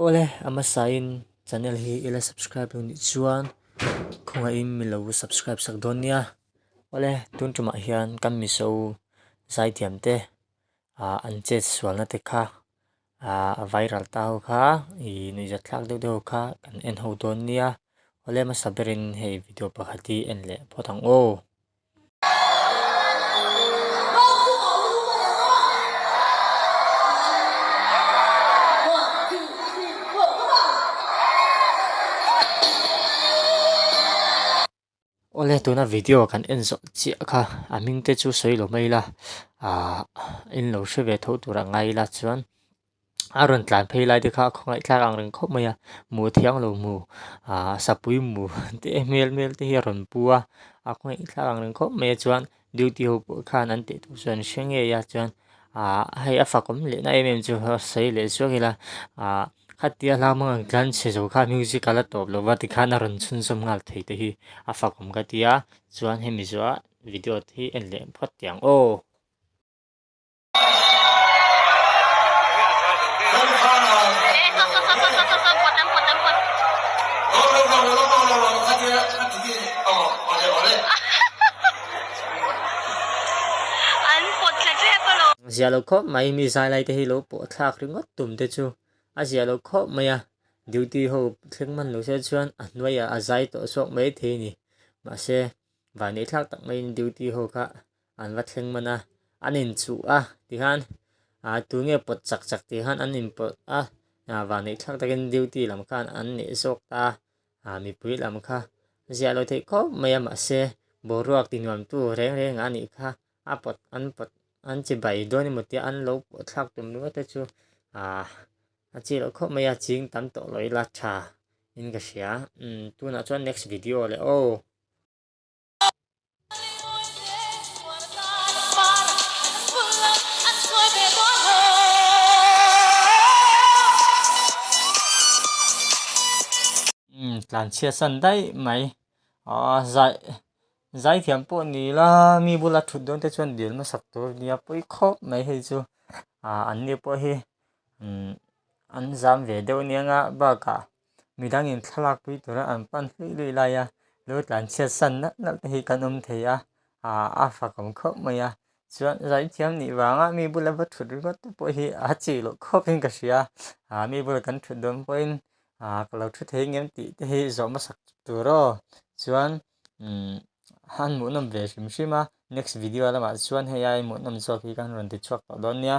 Awle a hmasa in channel hi ila subscribe lo nih chuan khawngah in milo subscribe sak dawn nia awle tun tumah hian kan miso zai tiam te ah an chet sual na te kha ah viral ta ho kha ih nuih zet thlak deuh deuh ho kha kan en ho dawn nia awle hmasa berin hei video pakhat hi en leh phawt ang aw. Awle tuna video kan en zawh chiah kha a hming te chu sawi lo mai ila ahh in lo hre ve tho tur a ngai ila chuan-- a rawn tlan phei lai te kha a khawngaih tlar ang reng khawp mai a, mu thiang lo mu aaa sapui mu te hmel hmel te hi a rawn pu a, a khawngaih tlar ang reng khawp mai a chuan duty ho pawh khan an teh tur chuan an hre ngei a chuan aaa hei a fak awm leh na em em chu a sawi leh suak ila aaa khatia hlak mangaih ang tlan chhe zo kha music a la tawp lo va tikhan a rawn chhunzawm nghal thei te hi a fak awm ka tia chuan hemi zuaaa video te hi en leh phawt tiang aw. Ziah lo khawp mai mi zailai te hi lo pawh thlak ringawt tum te chu a ziah lo khawp mai a, duty ho thleng hman lo se chuan a hnuaia a zai tawh zawk mai thei a ni. Mahse, vannei thlak tak maiin duty ho kha an va thleng man a, an inchuh a ti khan aa tui nge pawt chak chak tih khan an inpawlh a, aa vangneih thlak takin duty lam khan an neih zawk ta, aa mipui lam kha ziah lo theih khawp mai a mahse boruak ti nuam tu reng renga nih kha a pawt an pawt an che bai dawn emaw tia an lo pawh thlak tum rua te chu aa a che loh khawp mai a, ching tam tawh loh ila tha in ka hria umm tunah chuan next video leh aw. tlan chhia san daih mai ah zai zai thiam pawh ni ila mi bula thut dawn te chuan dil hmasak tur a nia pui khawp mai hei chu ah an ni pawh hi an zam ve deuh nia nga bakah. midangin thlalakpui tura an pan hlui hlui lai a lo tlan chhiat san nalh nalh te hi kan awm thei a a fa kawm khawp mai a chuan zaithiam nih vanga mi bula va thut ringawt te pawh hi a chih loh khawp in ka hria a mi bula kan thut dawn pawhin a ka lo thu thei ngem tih te hi zawh hmasa tur aw chuan han hmuh nawm ve hrim hrim a next video lamah chuan hei a inhmuhnawm zawk hi ka han rawn ti chhuak tawh dawn nia.